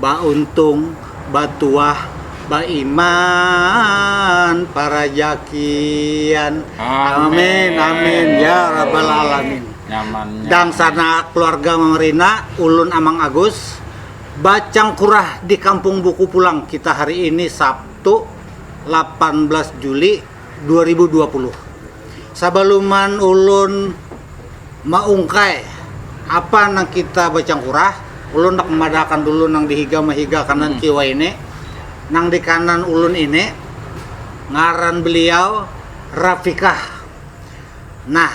Bauntung, batuah, baiman, parajakian. Amin. Amin. Ya Rabbal Alamin. Nyamannya. Dangsana keluarga Mamarina, ulun Amang Agus, bacangkurah di Kampung Buku pulang kita hari ini Sabtu lapan belas Juli. 2020. Sabaluman ulun maungkai apa nang kita bacangkurah, ulun handak mamadahakan dulu nang di higa mahiga kanan kiwa ini. Nang di kanan ulun ini ngaran beliau Rafiqah. Nah.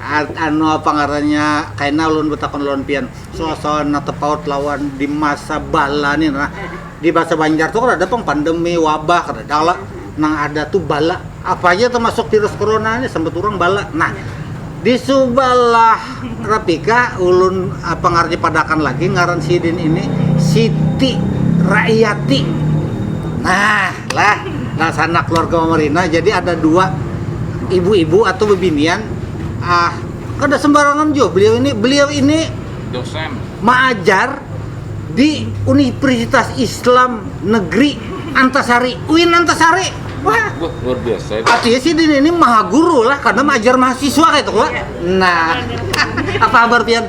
Anu apa ngarannya kaina ulun batakun lawan pian suasana nang tapaut lawan di masa bala ni nah di bahasa banjar tu kadada pang pandemi wabah kadada lah nang ada tu bala apa haja tamasuk virus corona ni sambat urang bala nah di subalah rapika ulun apa ngarannya padakan lagi ngaran sidin ini siti raiyati nah lah. Nah, sanak keluarga Mama Rina, jadi ada dua ibu-ibu atau bebinian. Ah, kada sembarangan jua beliau ini. Beliau ini dosen maajar di Universitas Islam Negeri Antasari, UIN Antasari. Wah, Wah, luar biasa itu. artinya si Dini ini maha guru lah karena maajar mahasiswa kayak itu, Wak. Nah, apa kabar Pian?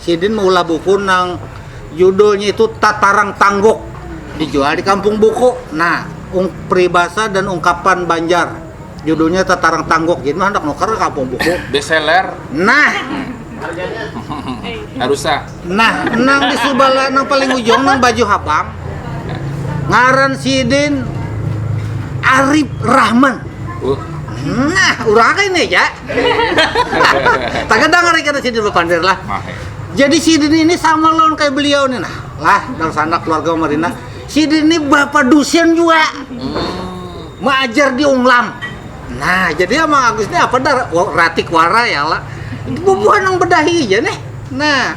Sidin maulah buku nang judulnya itu Tatarang Tangguk dijual di kampung buku. Nah, pribasa dan ungkapan Banjar judulnya Tatarang Tangguk. Jadi mah handak nukar ke kampung buku. Bestseller. Nah. Harusa. Nah, nang di subala nang paling ujung nang baju habang. Ngaran sidin Arif Rahman. Uh. Nah, urang ini ya. Tagadang hari kada sidin bapander lah. Jadi sidin ini sama lawan kaya beliau nih nah. Lah, dangsanak keluarga Umar Rina. Sidin ini bapa dusen jua. Maajar di Unglam. Nah, jadi ama Agus nih apa dah ratik wara ya lah. Bubuhan nang bedahi ja nih. Nah,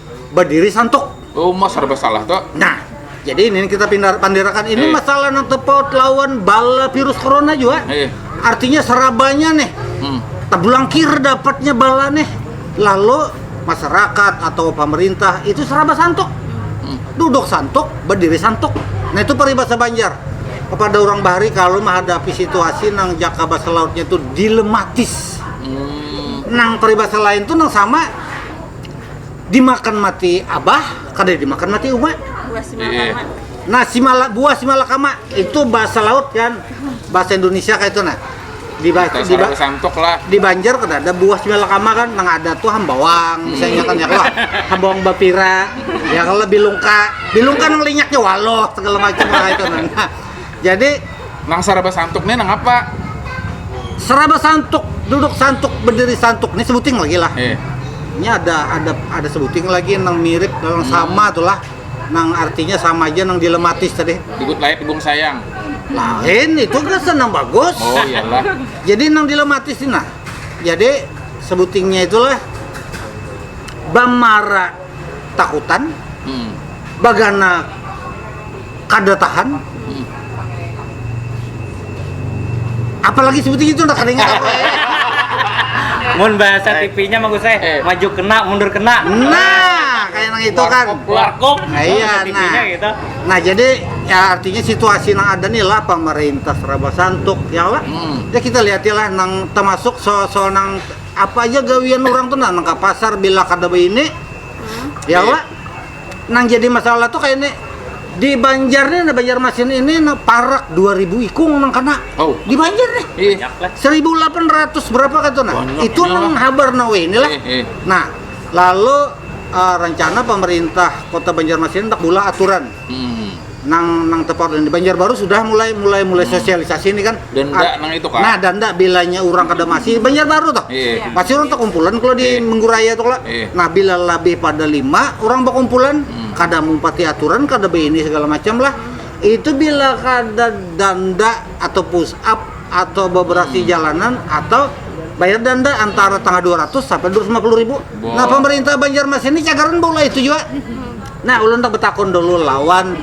berdiri santuk. Oh, mas serba salah tuh. Nah, jadi ini kita pindah pandirakan ini eh. masalah yang terpaut lawan bala virus corona juga. Eh. Artinya serabanya nih. Hmm. Tabulangkir dapatnya bala nih. Lalu masyarakat atau pemerintah itu seraba santuk. Hmm. Duduk santuk, berdiri santuk. Nah itu peribahasa Banjar kepada orang bahari kalau menghadapi situasi nang jaka bahasa lautnya itu dilematis. Hmm. Nang peribahasa lain tuh nang sama dimakan mati abah kada dimakan mati uma nah si mala, buah si malakama itu bahasa laut kan bahasa Indonesia kayak itu nah di, ba- Terus di, orang ba- kesantuk lah. di Banjar kan ada buah si malakama kan nang ada tuh hambawang misalnya kan ya kalau hambawang bapira ya kalau bilungka bilungka nang linyaknya waloh segala macam lah itu nah Jadi nang saraba santuk nih nang apa? Seraba santuk, duduk santuk, berdiri santuk. Ini sebuting lagi lah. Eh, Ini ada ada ada sebuting lagi nang mirip nang Hmm. sama tuh lah. Nang artinya sama aja nang dilematis tadi. dikut layak dibung sayang. Lain itu kan senang bagus. Oh iyalah. Jadi nang dilematis ini nah. Jadi sebutingnya itulah bamara takutan hmm. bagana kada tahan hmm. apalagi seperti itu nak ingat apa ya mun bahasa eh. TV-nya mah saya eh. maju kena mundur kena nah kayak nang itu kan warkop nah, iya nah gitu. nah jadi ya artinya situasi nang ada nih lah pemerintah seraba santuk ya lah hmm. ya kita lihat lah nang termasuk soal soal nang Apa aja gawian orang tuh nah, nang ka pasar bila kada baini, ya wa. Nang jadi masalah tuh kaya ni, di Banjar nih, nah Banjarmasin ini nah parak dua ribu ikung nang kana oh. di Banjar nih. Seribu delapan ratus berapa kata nah. Banyak itu nang habar nah weh inilah. Eh, eh. Nah, lalu uh, rencana pemerintah Kota Banjarmasin tak bulah aturan nang nang tepat di Banjarbaru sudah mulai mulai mulai hmm. sosialisasi ini kan dan enggak nang itu kan nah dan enggak bilanya orang kada masih Banjarbaru toh iya. iya. masih orang terkumpulan kalau di iya. Mengguraya tuh lah iya. nah bila lebih pada lima orang berkumpulan hmm. kada mumpati aturan kada ini segala macam lah itu bila kada danda atau push up atau beberasi hmm. jalanan atau bayar denda antara tanggal 200 sampai 250 ribu. Bo. Nah pemerintah Banjarmasin ini cagaran bola itu juga. Nah, ulun handak betakun dulu lawan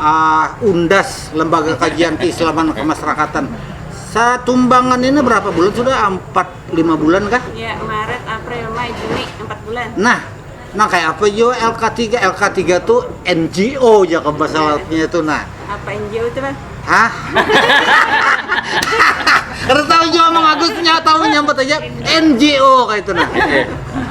uh, Undas, Lembaga Kajian Keislaman Kemasyarakatan. Satumbangan ini berapa bulan sudah? Empat, lima bulan kah? Ya, Maret, April, Mei, Juni, empat bulan. Nah, nah kayak apa yo LK3? LK3 tuh NGO ya ke bahasa lautnya itu. Nah, Apa NGO itu bang? Hah? Karena tahu juga Mang Agus nya tahu nyambat aja NGO kayak itu nah.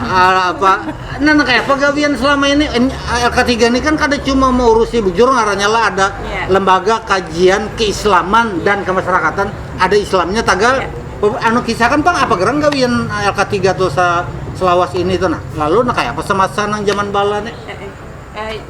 Ah, apa? Nah, nah kayak pegawaian selama ini N- LK3 ini kan kada cuma mengurusi bujur ngarannya lah ada Iya. lembaga kajian keislaman dan kemasyarakatan ada Islamnya tagal Iya. Pe- anu kisah kan pang apa gerang gawian LK3 tuh sa- selawas ini tuh nah lalu nah kayak apa semasa nang zaman bala nih Eh, eh, eh,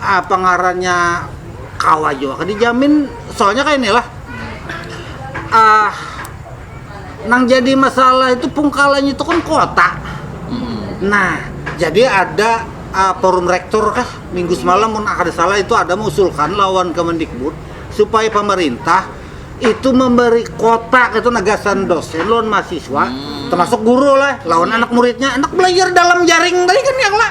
apa ngarannya kawa jua kan dijamin soalnya kayak inilah ah nang jadi masalah itu pungkalanya itu kan kota nah jadi ada ah, forum rektor kah minggu semalam mun kada salah itu ada mengusulkan lawan Kemendikbud supaya pemerintah itu memberi kota itu nagasan dosen lawan mahasiswa termasuk guru lah lawan anak muridnya anak belajar dalam jaring tadi kan yang lah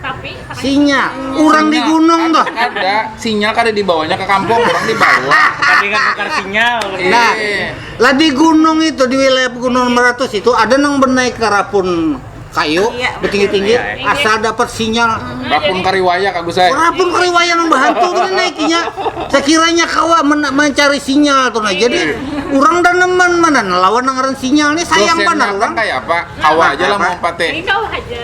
Tapi katanya Sinyal, orang di gunung tuh. Ada sinyal kada dibawanya ke kampung, orang dibawa. Tadi kan tukar sinyal. Iya. Nah, lah di gunung itu di wilayah Pegunungan Meratus itu ada nang bernaik ke rapun kayu Iya, bertinggi-tinggi betul. Iya. asal dapat sinyal. Bakun kariwaya Kak Gusai. Rapun keriwaya nang bahantu tuh naikinya sekiranya kawa men- mencari sinyal tuh nah. Jadi orang dan nemen mana lawan nang ngaran sinyal nih sayang Dosennya banar kan orang. kayak apa? Kawa aja lah Apa? mau pate. Ini kau aja.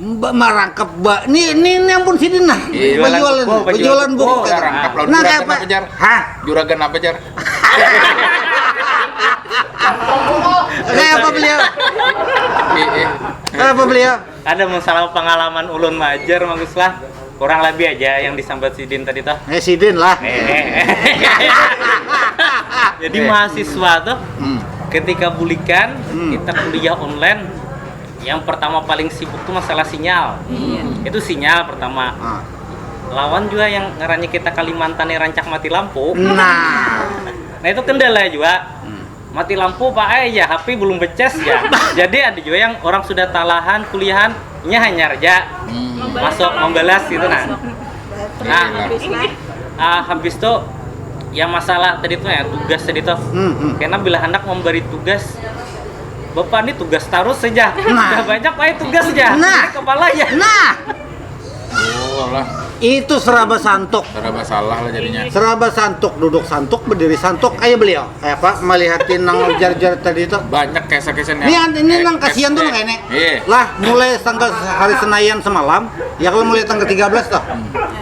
Mbak marangkap mbak ni ni ni ampun sidin nah penjualan buku, penjualan buku, buku kan. rangkap lawan nah juragan apa jar hah juragan apa jar kayak apa beliau kayak apa beliau ada masalah pengalaman ulun majar bagus lah kurang lebih aja yang disambat sidin tadi toh eh sidin lah jadi mahasiswa toh hmm. ketika bulikan hmm. kita kuliah online yang pertama paling sibuk tuh masalah sinyal iya. itu sinyal pertama ah. lawan juga yang ngarannya kita Kalimantan yang rancak mati lampu nah nah itu kendala juga hmm. mati lampu pak eh ya HP belum beces ya jadi ada juga yang orang sudah talahan kuliahan nya hanya aja hmm. masuk membalas gitu nah nah uh, habis itu yang masalah tadi tuh ya tugas tadi tuh hmm, hmm. karena bila hendak memberi tugas Bapak ini tugas tarus saja. Nah. Sudah banyak wae tugasnya. Nah. Ini kepalanya. Nah. Oh, lah. Itu seraba santuk. Seraba salah lah jadinya. Seraba santuk, duduk santuk, berdiri santuk. Ayo beliau. Eh, Pak, melihatin nang jar-jar tadi itu. Banyak kisah-kisah Ini yang ini eh, nang kasihan tuh eh, nang ini. Iya. Lah, mulai tanggal hari Senayan semalam, ya kalau mulai tanggal 13 toh. Hmm.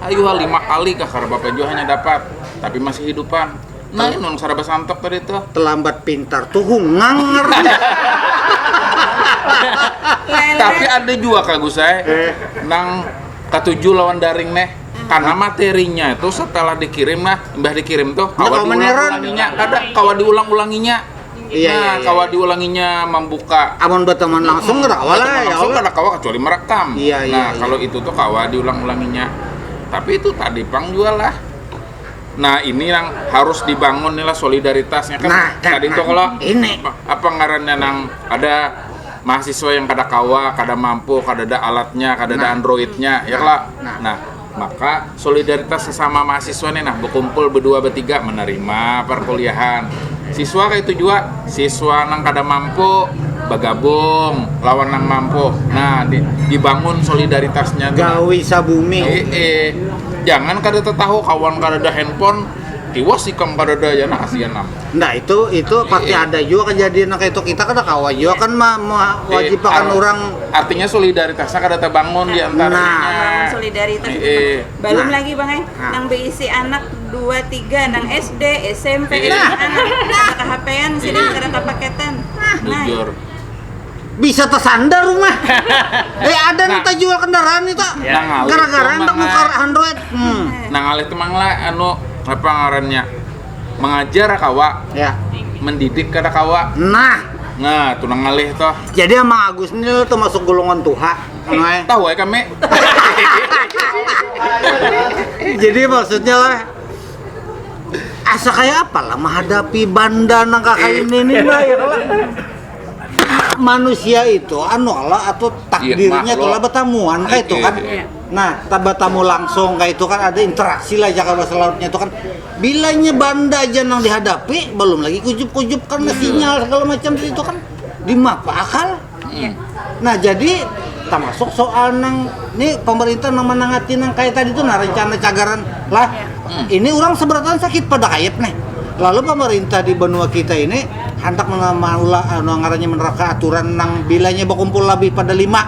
Ayuha lima kali kah kada apa-apa jua hanya dapat, tapi masih hidupan. Nang inun saraba santok tadi tuh. Telambat pintar tuhung ngangar. Tapi ada jua Kak Gusai eh. nang katuju lawan daring neh karena materinya itu setelah dikirim nah imbah dikirim tuh kawa diulang-ulanginya kada kawa diulang-ulanginya Iya, iya, nah, iya, kawa iya. diulanginya membuka. Amun berteman langsung hmm, kawa lah. Ya langsung kada kawa kecuali merekam. Iya, iya, nah, iya. kalau itu tuh kawa diulang-ulanginya. Tapi itu tadi pang juga lah. Nah ini yang harus dibangun nih lah solidaritasnya kan. Nah, kan tadi nah, tuh kalau ini apa ngarannya nang ada mahasiswa yang kada kawa, kada mampu, kada ada alatnya, kada nah, ada androidnya, ya lah. Nah, nah Maka, solidaritas sasama mahasiswa ni nah, bakumpul badua batiga manarima parkuliahan siswa kaitu jua, siswa nang kada mampu bagabung lawan nang mampu, nah dibangun solidaritasnya tu nah, jangan kada tatahu kawan kadada handphone tiwas ikam kadada jar nah kasian am. Nah itu itu pasti iya. ada juga kejadian kayak itu kita kada kawa juga kan ma, ma iya, wajib akan iya. orang artinya solidaritasnya kada terbangun di antara nah, nah solidaritas iya. belum nah. lagi bang eh nah. nang berisi anak dua tiga nang SD SMP iya. nah. anak ada kehapean sih iya. kada kepaketan nah. jujur bisa tersandar rumah. eh ada nah, nita jual kendaraan itu. Ya. Nah, Gara-gara ndak muka Android. Hmm. Nah, ngalih tuh mangla anu apa ngarannya? mengajar kawa ya mendidik kada kawa nah nah tunang ngalih toh jadi emang Agus ini tuh masuk golongan tuha eh, tahu ya kami jadi maksudnya lah asa kayak apa lah menghadapi banda nang kakak eh. ini nih lah ya lah manusia itu anu Allah atau iya, takdirnya itu lah bertamuan kayak itu iya, kan iya. nah tamu langsung kayak itu kan ada interaksi lah jaga bahasa lautnya itu kan Bila inya banda ja nang dihadapi, balum lagi kujup-kujup karna sinyal sagala macam tadi tu kan, dimapa akal. Nah jadi tamasuk soal nang ni pamarintah nang manangati nang kaya tadi tu nah rancana cagaran lah. Ini urang sabarataan sakit pada kayap nih, lalu pamarintah di banua kita ini handak maulah anu ngarannya manarapkan aturan nang bila inya bakumpul labih pada lima,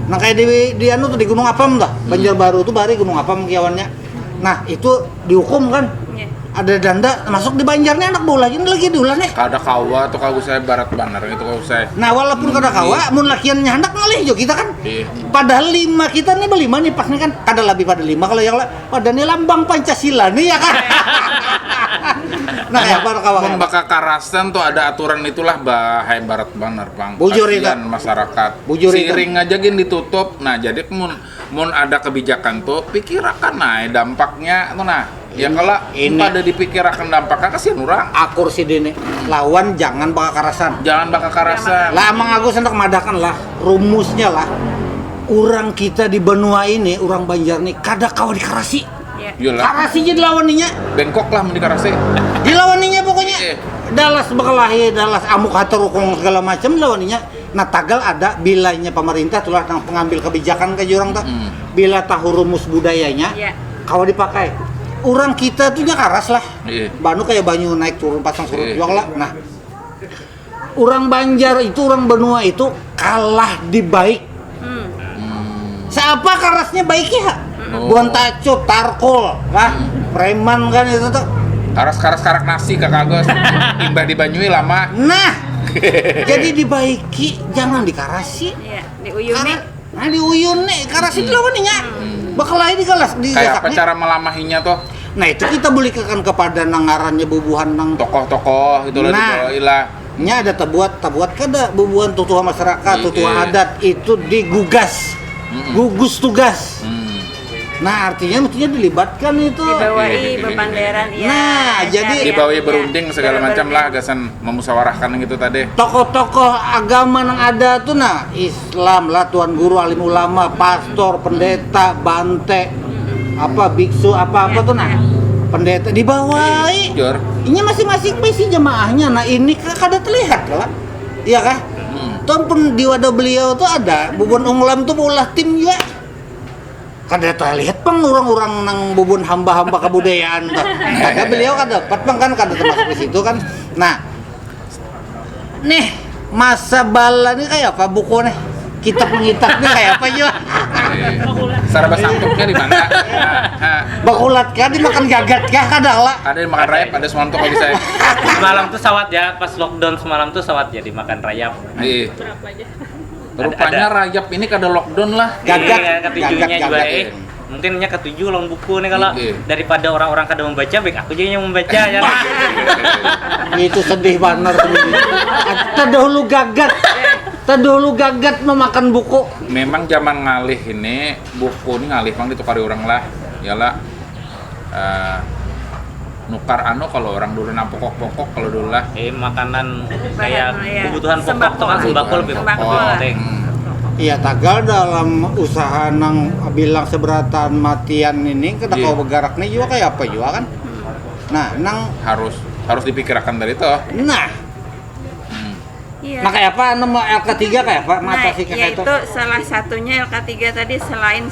nang kaya di anu tu di Gunung Apam tuh, Banjarbaru tu bahari Gunung Apam kiawannya. Nah, itu dihukum kan? Iya. Ada danda masuk di Banjar nih anak bola ini lagi diulah nih. Kada kawa tuh kau saya barat banar itu kau saya. Nah, walaupun kada kawa, mun lakiannya handak ngalih jo kita kan. Iya. Padahal lima kita nih berlima nih pas nih kan kada lebih pada lima kalau yang la- pada nih lambang Pancasila nih ya kan. nah, ya baru kawa. Mun bakakarasan tuh ada aturan itulah bahaya barat banar bang. Bujur itu. Kasihan masyarakat. Bujur itu. Siring aja gin ditutup. Nah jadi mun Mun ada kebijakan tu, pikirakan ai dampaknya tu nah. Ya kala, mun kada dipikirakan dampaknya kasihan urang. Akur sidin lawan jangan bakakarasan. Jangan bakakarasan. Lah Amang Agus handak madahkan lah, rumusnya lah, urang kita di banua ini, urang Banjar ni kada kawa dikarasi. Karasi ja dilawan inya. Bengkok lah mun dikarasi. Dilawan inya pokoknya. Dalas bakalahi, dalas amuk hatarukung segala macam dilawan inya. Nah tagal ada bilanya pamarintah tulah nang pengambil kebijakan kaya urang tuh hmm. bila tahu rumus budayanya yeah. kawa dipakai orang kita tuh nya karas lah yeah. banu kayak banyu naik turun pasang surut yeah. lah nah orang Banjar itu orang benua itu kalah di baik Siapa kerasnya baiknya ha? Oh. Bukan tacut, tarkol, wah, preman kan itu tuh. Karas-karas karak nasi kakagos. Imbah di Banyui lama. Nah, jadi dibaiki, jangan dikarasi. Iya, diuyuni. Kara- Nah, diuyun nih, karasi itu lawan nih, ya. Bakalahi di kelas, di Kayak apa gasaknya. cara melamahinya tuh? Nah, itu kita belikan kepada nangarannya bubuhan nang Tokoh-tokoh gitu lah Nah. dibawain lah. Nya ada tabuat, tabuat kada bubuhan tutuha masyarakat, tutuha adat itu digugas, gugus tugas. Nah, artinya mestinya dilibatkan itu. Dibawai bapanderan ya. Nah, jadi dibawai berunding segala macam lah gasan memusawarahkan nang itu tadi. Tokoh-tokoh agama nang ada tu nah, Islam lah tuan guru alim ulama pastor pendeta bante apa biksu apa apa tuh nah pendeta dibawai Jor. ini masing-masing pasti jemaahnya nah ini ka- kada terlihat lah iya kah tuan pun di wadah beliau tuh ada bubun unglam tuh ulah tim juga kada terlihat pang orang-orang nang bubun hamba-hamba kebudayaan tuh kada beliau kada dapat pang kan kada termasuk di situ kan nah Nih, masa bala nih kayak apa buku nih? Kitab ngitak nih kayak apa juga? Saraba sangkutnya di mana? Bakulat kah dimakan gagat kah kada lah? Kada dimakan rayap ada semalam tuh kalau bisa. semalam tuh sawat ya pas lockdown semalam tuh sawat ya dimakan rayap. Ih. Rupanya rayap ini kada lockdown lah. Gagat, gagat, gagat, gagat. mungkin nya katuju lawan buku nih kalau Iya. daripada orang-orang kada membaca baik aku aja yang membaca ya Itu sedih banar. Terdahulu gagat. Terdahulu gagat memakan buku. Memang zaman ngalih ini buku ni ngalih pang ditukari urang lah. Iyalah eh, nukar anu kalau orang dulu nang pokok-pokok kalau dulu lah eh makanan kayak iya. kebutuhan pokok tuh kan sembako lebih penting Iya tagal dalam usaha nang bilang seberatan matian ini kita yeah. kau bergerak nih juga kayak apa juga kan. Nah, nang harus harus dipikirkan dari itu. Nah, Iya. Nah kayak apa nomor L ketiga kayak apa? Nah, Mata nah, kayak itu. salah satunya L ketiga tadi selain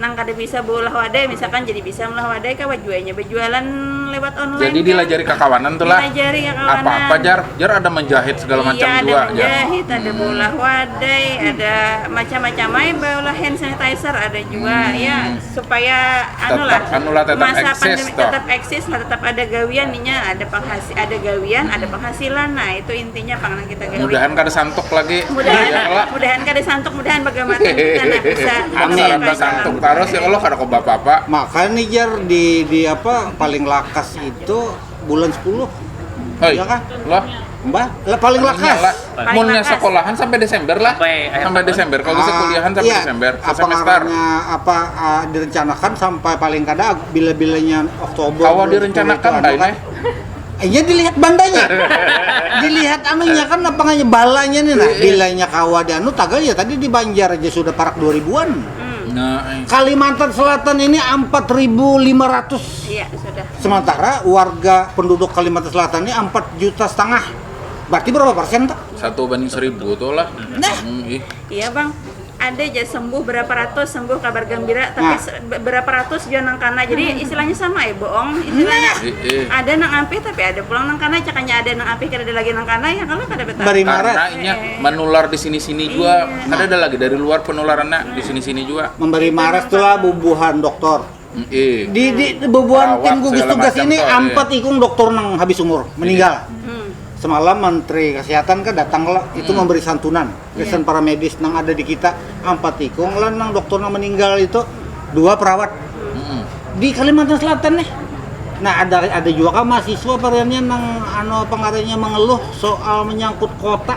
Nang kada bisa beulah wadai misalkan jadi bisa meulah wadai kawa jua inya bejualan lewat online. Jadi kan? dilajari kakawanan tu lah. Dilajari kakawanan. Apa-apa jar, jar ada menjahit segala iya, macam jua. Iya ada menjahit, jar. ada beulah hmm. wadai, hmm. ada macam-macam aja beulah hand sanitizer ada juga hmm. ya supaya anu lah. Anu lah tetap masa eksis, pandemi toh. tetap eksis lah, tetap ada gawian inya, ada penghasil, ada gawian, hmm. ada penghasilan. Nah, itu intinya pangan mudahan kada santuk lagi mudahan ya Allah mudahan kada santuk mudahan bagamatan karena bisa mudahan kada santuk terus ya Allah kada kau apa-apa makanya nih jar di di apa paling lakas itu bulan 10 Hei, ya kan? Lah, Mbah, lah paling lakas. Munnya sekolahan sampai Desember lah. Sampai, sampai Desember. Kalau bisa ah, kuliahan sampai iya, Desember. Apa semester. apa uh, direncanakan sampai paling kada bila-bilanya Oktober. Kalau direncanakan, kan? Iya dilihat bandanya. dilihat anunya kan apa nganya balanya nih nah. Bilanya kawa di anu tagal ya tadi di Banjar aja sudah parak 2000-an. Nah, eh. Kalimantan Selatan ini 4.500 Iya, sudah. sementara warga penduduk Kalimantan Selatan ini 4 juta setengah. Berarti berapa persen tak? satu banding seribu tuh lah Nah. Hmm, ih. Iya, Bang. ada ja sembuh berapa ratus sembuh kabar gembira tapi nah. berapa ratus juga nang kana jadi hmm. istilahnya sama ya bohong istilahnya nah. iya, iya. ada nang api tapi ada pulang nang kana cakanya ada nang api kada ada lagi nang kana ya kalau kada betah karena ini eh. menular di sini sini juga iya. ada ada lagi dari luar penularannya di sini sini juga memberi maret tuh lah bubuhan dokter Ih, di di bebuan tim gugus tugas ini iya. empat ikung dokter nang habis umur iya. meninggal. Hmm. Semalam Menteri Kesehatan kan datang lah itu hmm. memberi santunan kesan iya. para medis nang ada di kita empat ikung lah nang dokter nang meninggal itu dua perawat hmm. di Kalimantan Selatan nih. Nah ada ada juga kan mahasiswa variannya nang ano pengarangnya mengeluh soal menyangkut kota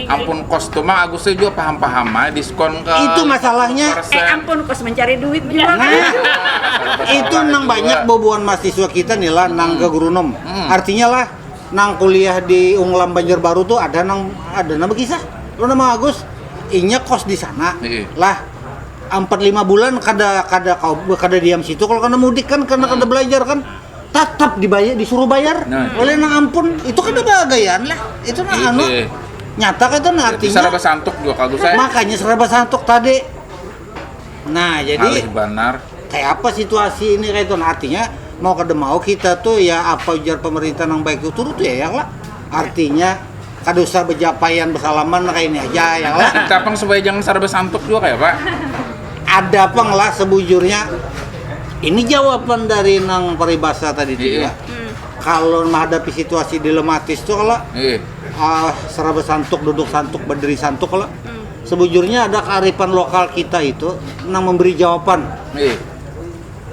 Ampun kos tu mang Agusnya jua paham-paham ai diskon ke Itu masalahnya. 50%. Eh ampun kos mencari duit jua Nah, kah? Kata itu salah nang jua. banyak bubuhan mahasiswa kita nih lah nang ke Grunum. Artinya lah, nang kuliah di Unglam Banjarbaru tuh ada nang ada nang bekisah lo nang mang Agus, inya kos di sana Heeh. lah ampat lima bulan kada kada kawa kada diam situ kalo kada mudik kan karena kada belajar kan. Tatap dibayar, disuruh bayar nah, oleh nang ampun. Itu kan ada gayaan lah. Itu nah anu iya. nyata kan itu nah artinya. Serba santuk juga kalau saya. Makanya serba santuk tadi. Nah jadi. Halih benar. Kayak apa situasi ini kayak itu nah, artinya mau kada mau kita tuh ya apa ujar pemerintah yang baik itu turut ya ya lah artinya kada usah bejapaian besalaman lah kaini aja ya lah Kita pang supaya jangan sarba santuk jua kaya apa? ada pang lah sebujurnya ini jawaban dari nang paribasa tadi tu Iya. jua kalau mahadapi situasi dilematis tu kalo Iya. ah, seraba santuk duduk santuk berdiri santuk kalo sebujurnya ada kearifan lokal kita itu nang memberi jawaban Iya.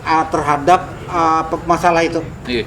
ah, terhadap ah, pe- masalah itu Iya.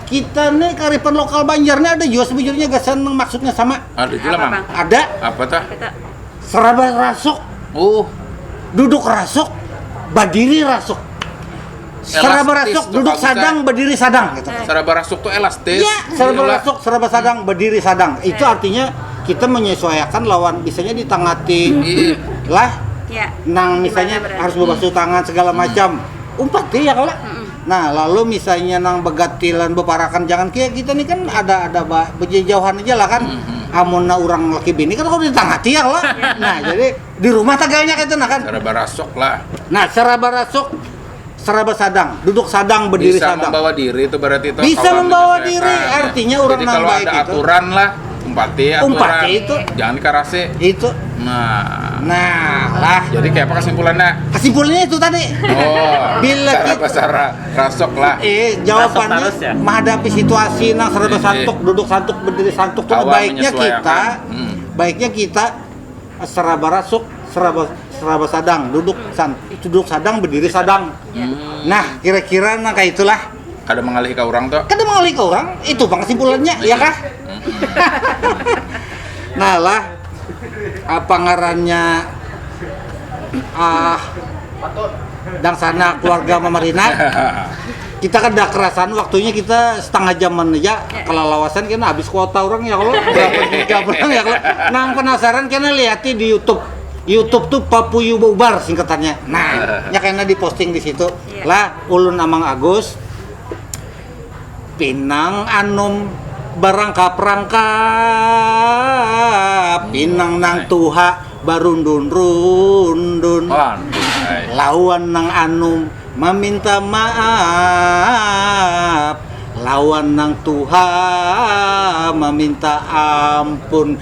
kita nih karifan lokal Banjar nih ada juga sebujurnya gasan yang maksudnya sama. Ada juga Apa, mang. Bang? Ada Apa tah? Kita seraba rasuk, Uh, duduk rasuk, berdiri rasuk. Seraba Elastis rasuk, tuh duduk kamu, sadang, Cak. berdiri sadang gitu. seraba rasuk tuh elastis. Iya, serba Gila. masuk, serba sadang, berdiri sadang. Itu artinya kita menyesuaikan lawan bisanya ditangati Iya. lah ya. nang misalnya Gimana berarti? harus berbasuh tangan segala macam. Umpat ya kalau Nah, lalu misalnya nang bagatilan baparakan jangan kaya kita ni kan ada ada ba bejejauhan aja lah kan. Amunnya urang laki bini kan kawa di tangah tiang lah. Nah, jadi di rumah tagalnya kaytu nah kan. Saraba rasuk lah. Nah, saraba rasuk, saraba sadang, duduk sadang, berdiri sadang. Bisa mambawa diri tu berarti tu. Bisa mambawa diri, artinya urang nang baik itu. Jadi kalau ada aturan lah. umpati aturan umpati itu jangan dikarasi itu nah nah lah jadi kayak apa kesimpulannya kesimpulannya itu tadi oh bila cara kita, cara rasok lah eh jawabannya rasok ya? menghadapi situasi nah serba eh, eh. santuk eh. duduk santuk berdiri santuk tuh baiknya kita hmm. baiknya kita seraba rasuk seraba seraba sadang duduk san duduk sadang berdiri sadang hmm. nah kira-kira nah kayak itulah Kada mengalihi ka orang tuh. Kada mengalihi ka orang, itu pang kesimpulannya, ya kah? nah lah, apa ngarannya ah dangsana keluarga mamarinah kita kada kerasan waktunya kita setengah jaman aja kelalawasan kena habis kuota orang ya kalau berapa giga orang ya kalau nang penasaran kena lihati di YouTube YouTube tuh Papuyu Ubar singkatannya nah ya kena diposting di situ lah Ulun Amang Agus, pinang anum barangkap-rangkap, pinang nang tuha barundun-rundun lawan nang anum maminta maaf lawan nang tuha maminta ampun.